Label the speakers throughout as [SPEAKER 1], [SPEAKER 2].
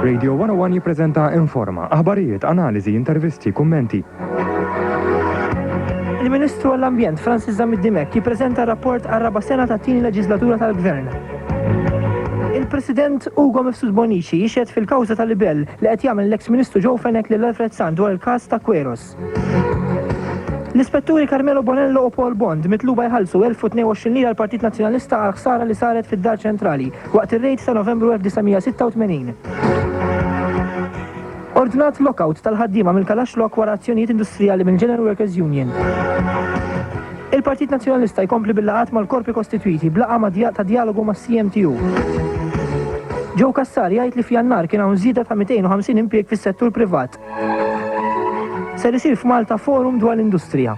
[SPEAKER 1] Radio 101 jippreżenta Informa, aħbarijiet, analiżi, intervisti, kummenti.
[SPEAKER 2] Il-Ministru għall-Ambjent Francis Zamid Dimek jippreżenta rapport għar-raba' sena tat-tieni leġislatura tal-Gvern. Il-President Ugo Mifsud Bonnici jixhed fil-kawża ta' libell li qed jagħmel l-eks Ministru Joe Fenech lil Alfred Sant dwar il-każ ta' Queros. L-Ispetturi Carmelo Bonello u Paul Bond mitluba jħallsu 1022 lira l-Partit Nazzjonalista għall-ħsara li saret fid-Dar Ċentrali waqt ir-rejd ta' Novembru 1986. Ordnat lockout tal-ħaddiema mill-Kalash Lock wara azzjonijiet industrijali mill-General Workers Union. Il-Partit Nazzjonalista jkompli bil-laqgħat mal-korpi kostitwiti b'laqgħa ma' dja ta' djalogu mas-CMTU. Joe Cassar jgħid li f'Jannar kien hawn żieda ta' 250 impjieg fis-settur privat. Ser isir f'Malta forum dwar l-industrija.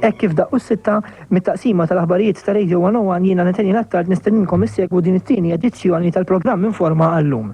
[SPEAKER 2] Hekk kif daqqu s-sitta, mit-taqsima tal-aħbarijiet ta' Radio 101 jiena Nathaniel Attard nistenninkom issegwu din it-tieni edizzjoni tal-programm Informa għal-lum.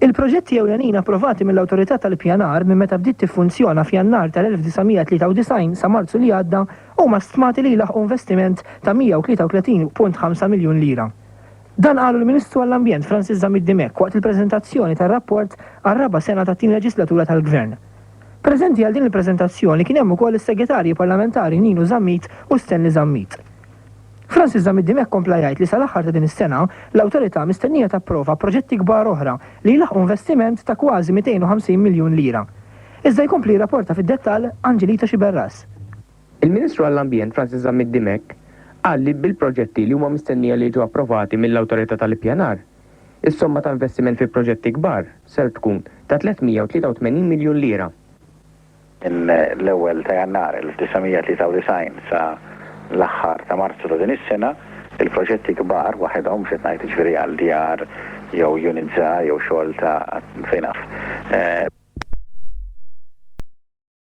[SPEAKER 2] Il-proġetti ewlenin approvati mill-Awtorità tal-Ippjanar minn meta bdiet tiffunzjona f'Jannar tal-1993 sa Marzu li għadda huma stmati li jlaħħqu investiment ta' 133.5 miljun lira. Dan qalu l-Ministru għall-Ambjent Francis Zammit Dimech waqt il-preżentazzjoni tar-rapport għar-raba' sena tat-tieni leġislatura tal-Gvern. Preżenti għal din il-preżentazzjoni kien hemm ukoll is-Segretarji Parlamentari Nino Zammit u Stanley Zammit. Francis Zammit Dimech kompla jgħid li sal-aħħar ta' din is-sena, l-Awtorità mistennija tapprova proġetti kbar oħra li jlaħħqu investiment ta' kważi 250 miljun lira. Iżda jkompli jirrapporta fid-dettall Angelita Sciberras. Il-Ministru
[SPEAKER 3] għall-Ambjent Francis Zammit Dimech qal li bil-proġetti li huma mistennija li jiġu approvati mill-Awtorità tal-Ippjanar, Is-somma ta' investiment fi proġetti kbar ser tkun ta' 383 miljun lira. Minn l-ewwel
[SPEAKER 4] ta' Jannar 1993 sa l-aħħar ta' Marzu ta' din is-sena, il-proġetti kbar waħedhom, mhux qed ngħid jiġifieri għal djar jew units żgħar jew xogħol ta' fejn naf,